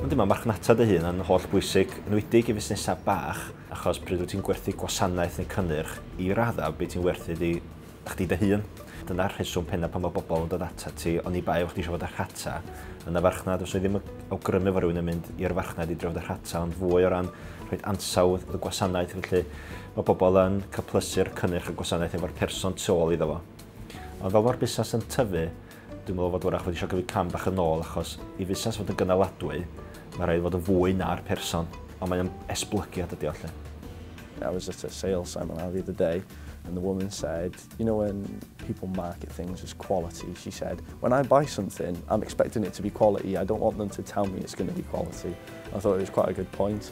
Yndi, mae marchnata dy hun yn holl bwysig, yn wedig i fusnesau bach, achos pryd wyt ti'n gwerthu gwasanaeth neu cynnyrch, i raddau bydd ti'n werthu iddi chdi dy hun. Dyna'r rheswm pennaf pan mae bobl yn dod atat ti, oni bai fod chdi eisiau fod â rhata yn y farchnad. Os o'i ddim yn awgrymu fod rhywun yn mynd i'r farchnad i drafod y rhata, ond fwy o ran rhoi ansawdd y gwasanaeth, felly Mae pobl yn cyplysu'r cynnyrch y gwasanaeth efo'r person tu ôl iddo fo. Ond fel mae'r busnes yn tyfu, dwi'n meddwl fod wrach wedi eisiau gyfyd cam bach yn ôl achos i fusnes fod yn gynaladwy, mae rhaid fod yn fwy na'r person, ond mae o'n esblygiad ydi o lle. I was at a sales seminar the other day and the woman said, you know when people market things as quality, she said, when I buy something, I'm expecting it to be quality, I don't want them to tell me it's going to be quality. I thought it was quite a good point.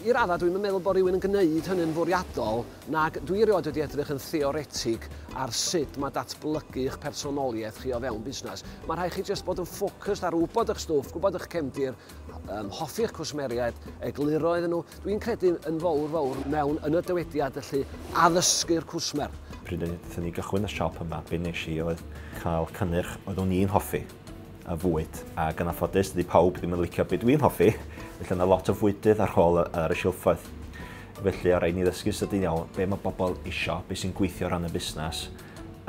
I raddau, dwi'm yn meddwl bod rhywun yn gwneud hynny'n fwriadol, nac dwi erioed wedi edrych yn theoretig ar sut mae datblygu eich personoliaeth chi o fewn busnes. Mae rhaid chi jyst bod yn ffocysd ar wybod eich stwff, gwybod eich cefndir, um, hoffi eich cwsmeriaid, egluro iddyn nhw. Dwi'n credu yn fawr fawr mewn yn y dywediad felly addysgu'r cwsmer. Pryd wnaethon ni gychwyn y siop yma, be nes i oedd cael cynnyrch oeddwn i'n hoffi. a fwyd, ac yn anffodus dydi pawb ddim yn licio be dwi'n hoffi, felly yna lot o fwydydd ar ôl ar y silffoedd. Felly o rhaid ni ddysgu sydyn iawn be mae bobl isio, be sy'n gweithio ran y busnes,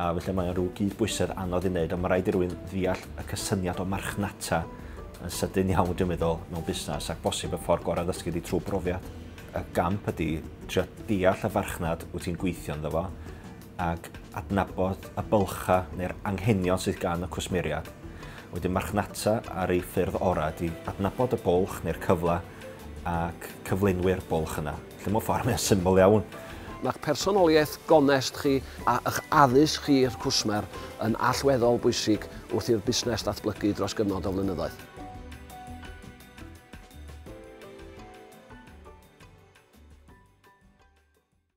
a felly mae'n rhyw gyd bwysedd anodd i wneud, ond mae rhaid i rwy'n ddeall y cysyniad o marchnata yn sydyn iawn dwi'n meddwl mewn busnes ac bosib y ffordd gorau ddysgu di trwy brofiad. Y gamp ydy trio deall y farchnad wyt ti'n gweithio ynddo fo, ac adnabod y bylchau neu'r anghenion sydd gan y cwsmeriaid. Wedyn marchnata ar ei ffyrdd orau ydy adnabod y bwlch neu'r cyfle ac cyflenwi'r bwlch yna. Lle mewn ffordd mae'n syml iawn. Mae'ch personoliaeth gonest chi a ych addysg chi i'r cwsmer yn allweddol bwysig wrth i'r busnes ddatblygu dros gyfnod o flynyddoedd.